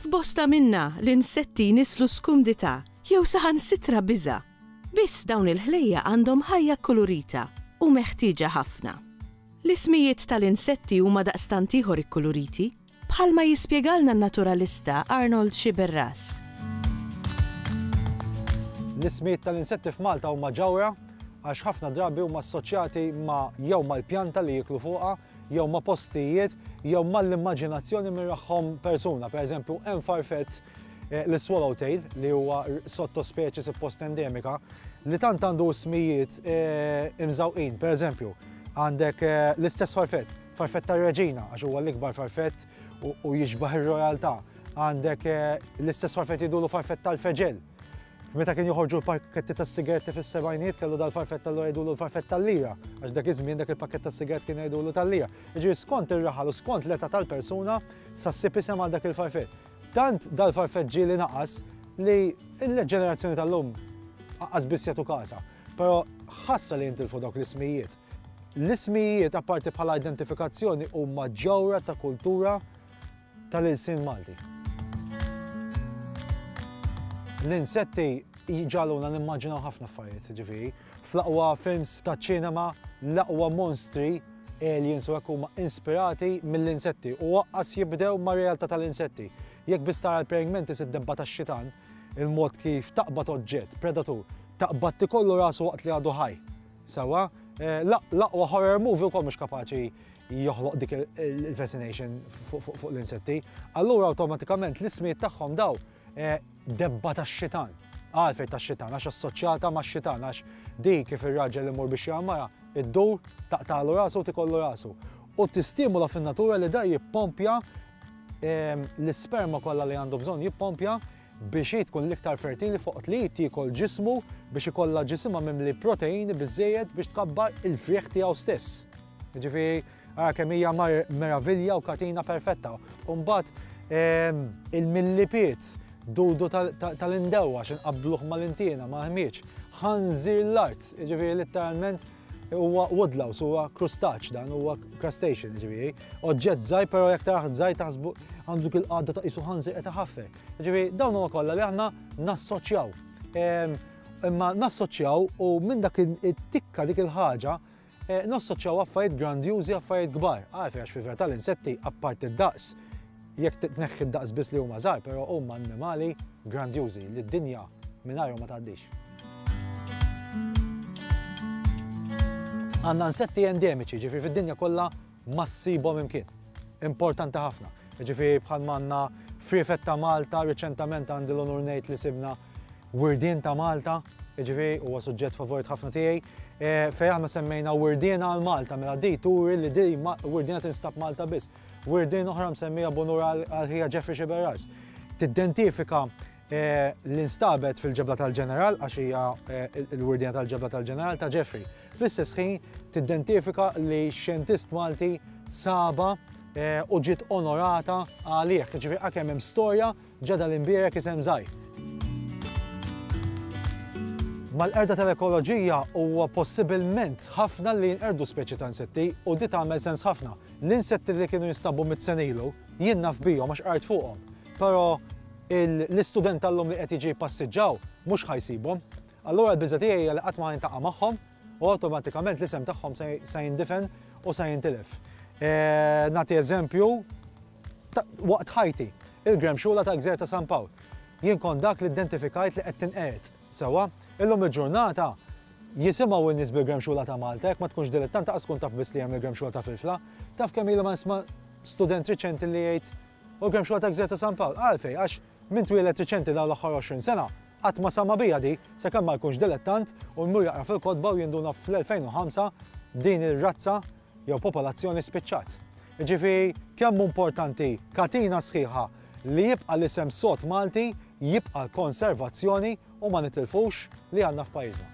F'bosta minna l-insetti nislu skumdità jew saħansitra biża'. Biss dawn il-ħlejja għandhom ħajja kkulurita u meħtieġa ħafna. L-ismijiet tal-insetti huma daqstant ieħor ikkuluriti Bħalma jispjegalna n-naturalista Arnold Sciberras. L-ismijiet tal-insetti f'Malta huma ġawhra għax ħafna drabi huma assoċjati ma' jew mal-pjanta li jieklu fuqha, jew ma' postijiet, jew mal-immaġinazzjoni minn raħħom persuna. Per eżempju, hemm farfett Eh, l-swallowtail li huwa sottospeċi suppost endemika li tant għandu smijiet eh, imżawqin, per eżempju, għandek eh, l-istess farfet Farfett tar-Reġina, għax huwa l-ikbar farfett u jiġbaħ ir-rojaltà. Għandek eh, l-istess farfett jidulu farfett tal-feġel. Meta kien joħorġu l-pakketti tas sigaretti fis-sebajniet kellu dal-farfett tal jidulu l-farfett tal-lira, għax dak iż-żmien dak il-pakkett tas sigaret kien jidulu tal-lira. Ġi skont ir-raħal u skont l-età tal-persuna sa ssib isem għal dak il-farfett. Tant dal-farfett ġieli naqas li l-ġenerazzjoni tal-lum għaqqas biss jagħtu kasa. Però ħassa li jintilfu dawk l-ismijiet. L-ismijijiet, apparti bħala identifikazzjoni, huma ġewra ta' kultura tal-ilsien Malti. L-insetti jġaluna nimmaġinaw ħafna affarijiet, ġifieri. Fl-aqwa films ta' ċinema, l-aqwa monstri aliens u huma inspirati mill-insetti u waqqas jibdew ma' realtà tal-insetti. Jekk biss tara l-praying mantis id-debba tax-xitan, il-mod kif taqbad oġġett, predatur, taqbad tikollu rasu waqt li għadu ħaj. Sewwa, l-aqwa horror movie wkoll mhux kapaċi joħloq dik il-fascination fuq l-insetti. Allura awtomatikament l-ismijiet tagħhom daw eh, debba tax-xitan. Għalfej tax-xitan, għax assoċjata ma' xitan, għax di kif ir-raġel li mur biex jammara, id-dur taqtalu rasu u tikollu rasu. U tistimula fin-natura li da jippompja ehm, l-isperma kollha li għandu bżonn jippompja biex hi tkun l-iktar fertili fuq li tiekol ġismu biex ikollha ġisimha mimli proteini biżejjed biex tkabbar il-frieħ tiegħu stess. Ġifieri, ara kemm hija meravilja u katina perfetta. U mbagħad ehm, il-millipiet dudu tal-indewa x'inqabluh mal-intiena ma' ħmieġ ħanżir l-art, ġifieri letteralment Huwa woodlouse, huwa krustaċ dan, huwa crustacean ġifieri. Oġġett żgħir però jekk taraħ żgħir taħsbu għandu kil qadda ta' isu ħanżir qed iħaffer. Ġifieri dawn huwa kollha li aħna nassoċjaw. Ehm, imma nassoċjaw u minn dak it-tikka dik il-ħaġa eh, nassoċjaw affarijiet grandjużi affarijiet kbar. Għarfi għax fil-vera tal-insetti apparti d-daqs Jekk tneħħi d-daqs biss li huma żgħar, però huma annimali grandjużi li d-dinja mingħajrhom ma tgħaddix. Għandna insetti endemiċi, ġifieri fid-dinja kollha ma ssibhom imkien. Importanti ħafna. Ġifieri bħal manna frifet ta' Malta, riċentament għandi l-onur ngħid li sibna wirdien ta' Malta, ġifieri huwa suġġett favorit ħafna tiegħi. E, Fejn aħna semmejna wirdien għal Malta, mela di turi li di wirdien tinstab Malta biss. Wirdin oħra msemmija b'unur għal ħija Jeffrey Xiberras. Tiddentifika eh, l-instabet fil-ġebla tal-ġeneral, għax hija eh, l-wirdina tal-ġebla tal-ġeneral ta' Jeffrey. Fl-istess ħin tiddentifika li xjentist Malti saba eh, u ġiet onorata għalih. Ġifieri għakemm hemm storja Ġa dal-imbierek isem żgħir. Mal-qerda tal-ekoloġija huwa possibilment ħafna li jinqerdu speċi ta' insetti u di tagħmel sens ħafna. L-insetti li kienu jinstabu mitt sena ilu jien naf bihom għax qrajt fuqhom. Però l-istudent tal-lum li qed jiġi jpassiġġaw mhux ħa jsibhom. Allura l-biża tiegħi hija li qatt ma jintaqa' magħhom u awtomatikament l-isem tagħhom se jindifen u se jintilef. Eh, nagħti eżempju, Waqt ħajti, il-gremxula ta' Gżejjer ta' San Pawl, jien kont dak li identifikajt li qed tinqered. Sewwa? Illum il-ġurnata jisimgħu n-nies bil-gremxula ta' Malta, jekk ma tkunx dilettant lanqas tkun taf biss li hemm il-gremxula ta' Filfla. Taf kemm ili ma nisma' student riċenti li jgħid, U l-gremxula ta' Gżejjer ta' San Pawl? Għalfejn? Għax min twieled riċenti dawn l-aħħar 20 sena qatt ma sama' biha di, sakemm ma jkunx dilettant u jmur jaqra fil-kotba u jinduna fl-2005 din ir-razza jew popolazzjoni spiċċat. Jiġifieri kemm hu importanti katina sħiħa li jibqa' l-isem sod Malti, jibqa' l-konservazzjoni u ma nitilfux li għandna f'pajjiżna.